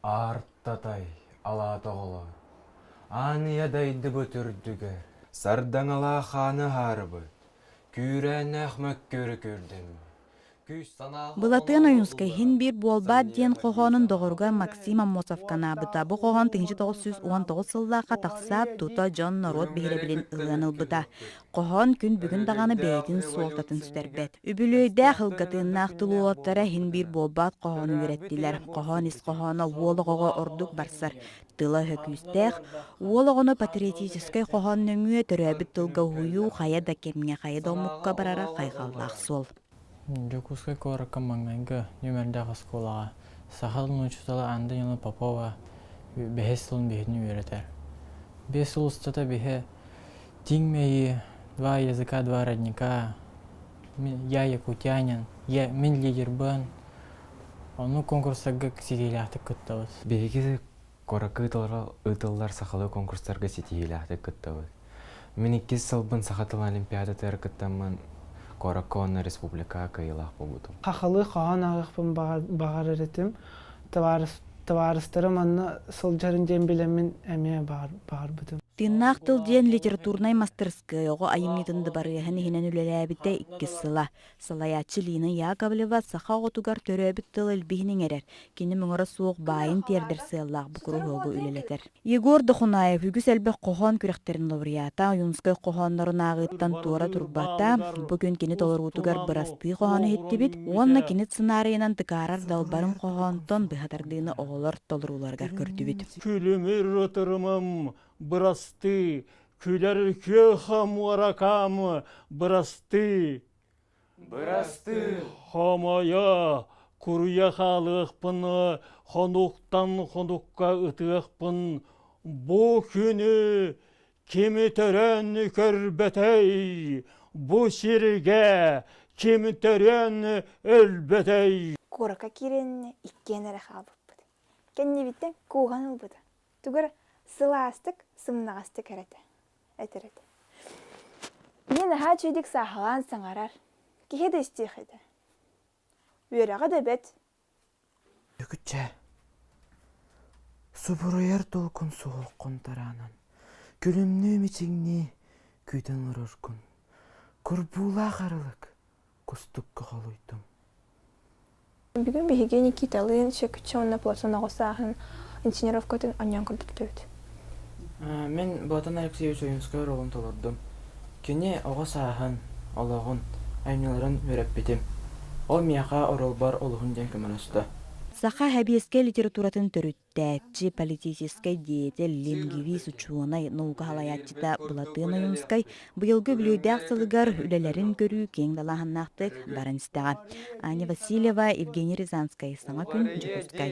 Аартатай алаата оҕолоор, ааныйа дайдыбыт үрдүгэр сардаҥалаах ааны аһаарыбыт, күүрээннээх мөккүөрү көрдөннө. Күүс санааҕа Былатыан Ойуунскай «Син биир буолбаат» диэн хоһоонун доҕоругар Максим Аммосов ханаабыта. Бу хоһоон тыһыынча тоҕус сүүс уон тоҕус сыллаахха тахсаат, тута дьон-норуот биһирэбилин ылыан ылбыта. Хоһоон күн бүгүн даҕаны бэйэтин суолтатын сүтэрбэт. Үбүлүөйдээх ылгатыыннаах тулуоптара иһин биир буолбаат хоһоону үөрэттилэр. Хоһоон ис хоһооно уол оҕоҕо ордук барсар тыла-өһө күүстээх. Уол оҕону патриотическай хоһоон нөҥүө төрөөбүт тылга уһуйуу хайа да кэмҥэ, хайа да омукка барара хайҕаллаах суол. Дьокуускай куоракка маҥнайгы нүмердээх оскуолаҕа сахал нууччатала Анда Нина Попова бэһис сылын биһигини үөрэтэр. Биэс сыл устата биһи тииҥ мэйии, два языка, два родника, я якутянин, я мин лидербын, ону куонкурстарга ситиилээхтик кыттабыт. Биһиги Куоракка ыытыллар сахалыы конкурстарга ситиһиилээхтик кыттабыт. Мин иккис сылбын саха тыла олимпиадатыгар кыттаммын, куоракка уонна республикаҕа кыайыылаах буолбутум. Сахалыы хоһоон ааҕыахпын баҕарар этим. Табаарыстарым онно сылдьарын диэн билэммин эмиэ баҕарбытым. Тыыннаах тыл диэн литературнай мастырыскыай оҕо айымньытын дыбарыаһын иһинэн үлэлээбитэ иккис сыла. Салайааччы Лина Яковлева саха оҕотугар төрөөбүт тыл илбиһин иҥэрэр, кини муҥура суох баайын тиэрдэр сыаллаах бу куруһуогу үлэлэтэр. Егор Дохунаев үгүс элбэх хоһоон күрэхтэрин лауреата, Ойуунускай хоһооннорун ааҕыыттан туора турбата, бу күн кини толоруутугар бырастыы хоһоону иһиттибит уонна кини сценарийынан тыкаарар далбарын хоһоонтон быһа тардыыны оҕолор толорууларыгар көрдүбүт. Күлүмүр ытырымым бырастыы Күлэр күөх муоракаамы бырастыы. Бырастыы. Хомойо, куруйа хаалыахпын, хонуктан хонукка ытыахпын. Бу күнү кими төрөөн көрбөтөй, бу сиргэ ким төрөөн өлбөтөй. Куорака киирэн иккиэн эрэ хаалбыппыт. Кэннибиттэн кууһан ылбыта. Тугар сылаастык, сымнаҕастык эрэ этэ. Этэр этэ. Мин наһаа чэйдик сааһылаан саҥарар. Киһи да истиэх этэ. Үөрэҕэ да бэт. Дьөгүччэ, субуруйар долгун суох хонтораанан күлүмнүү-мичиҥнии күүтэн ороргун. Курбуулаах арылык кустукка холуйдум. Бүгүн биһиги Никиталыын Сөкүччэ уонна Платон оҕо сааһын инсценировкатын онньоон көрдөрдүбүт. Мин Платон Алексеевич Ойуунускай ролун толордум. Кини оҕо сааһын, олоҕун, айымньыларын үөрэппитим. Ол миэхэ оролбор олуһун диэн көмөлөстө. Саха, Һэбиэскэ литературатын төрүт. Кэттээччи, политическай деятель, лингвист, учуонай, наука салайааччыта Былатыан Ойуунускай быйылгы үбүлүөйдээх сылыгар үлэлэрин көрүү киэҥ далааһыннаахтык баран истэҕэ. Аня Васильева, Евгений Рязанскай, саҥа күн, Дьокуускай.